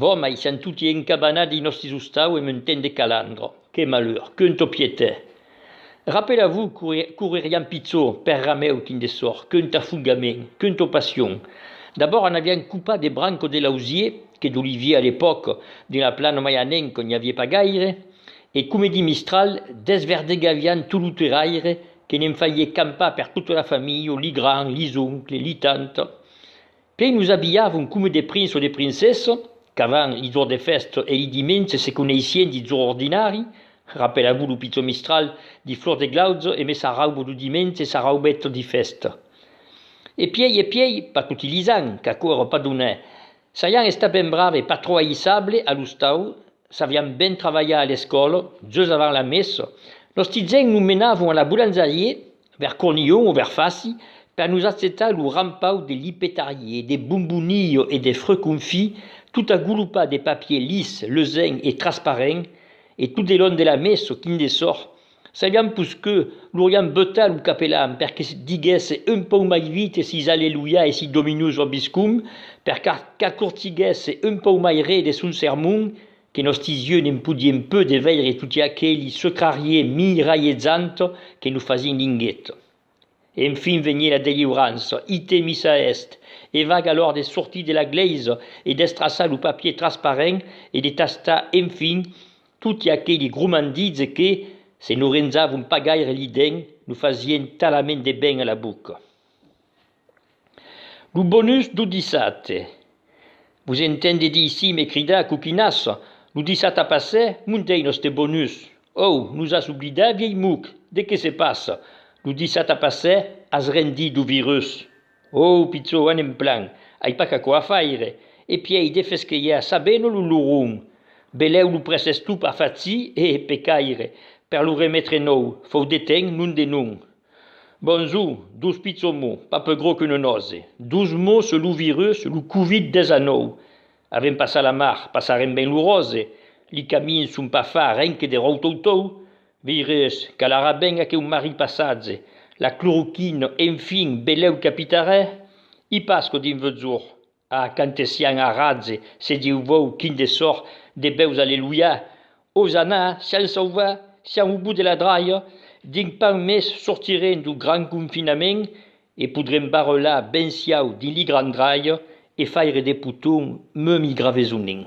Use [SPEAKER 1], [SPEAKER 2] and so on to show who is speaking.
[SPEAKER 1] Vò, mai sián toti encabanats dins nòstes ostau e m'un temps de calandra. Que malheur! Qu'un topietè! Rapela-vos, couririán pichor per rameu quin de sòrt, qu'un tafugament, qu'un topassion. D'abòrd anavián copat de branco de lausier, que d'olivier a l'epòca, dins la plana mai a nenc n'i avié pas gaire, e coma dins Mistral, desverdegavián tot lo terraire, que ne'n faié campar per tota la familha, li grands, li oncle, li tantes. Que nos abilhavon coma de prince o de princessa, qu'avant li jorn de fèsta e li dimenge se coneissien dit jorn ordinari, rapela-vos lo pichon mistral dit flors de glauja e me sarraubo lo dimenge e sarraubèt dit fèsta. E pièi e pièi, pas toti li an, qu'aquò era pas donè, saian estat ben brave, pas trò aïssable a l'ostau, Saviam ben travalhar a l'escòla, just avant la messa, nos tizèns nos menavon a la bolanzarier, vers Cornillon o vers Faci, per nos achetar lo rampau de lipetarier, de bombonillo e de freu confit, tot agolopat de papier lis, leusenc e trasparent, e tot de long de la messa, quin de sòrt! Sabiam pus que loriam beutar lo capelan per que diguèsse un pauc mai vite sis Alleluia e sis Dominus vobiscum, per qu'acurtiguèsse un pauc mai re de son sermon, que nòsti yeux ne'n podien peu de veire toti aqueli secrarier miralhezant que nos fasién linghet. Enfin venie la delivrança, ite missa est! E vag alor de sortir de la glèisa e d'estraçar lo papier transparent e de tastar enfin toti aqueli grumandits que, se no renzavon pas gaire li dents, nos fasien talament de ben a la boca. Lo bonus do dissate. Vos entende dir sim e cridar coquinas, lo dissata passè montèi noste bonus. Ou, nos as oblidat vièi muc, de que se passa? Lo dissata passè as rendit lo virus. Ou pichó anem plan, ai pas qu'aquò a faire, e pièi de fesquelhar ça beno lo luron. Belèu lo prèses tu pas faci e, pecaire, per lo remetre nou, fou de ten, non de non. Bonjou, dos pichons mots, pas peu gros qu'une nose, dos mots sur lo virus, lo covid 19. Avèm passat la mar, passarem ben lo rose, li camins son pas far ren que de ròutoutou, virus, calarà ben aqueu marrit passatge, la cloroquine, enfin, belèu capitarè? I pas que dins veu jorn. A cantesian aratze se diu vòu quin de sòr de bèus alleluia, osanna, sian sauva, sian au bout de la draia, dinc pan mes sortirem dou gran confinament e podrem barrelar ben siau dins li gran draia e faire de poton meunt i gravesonin.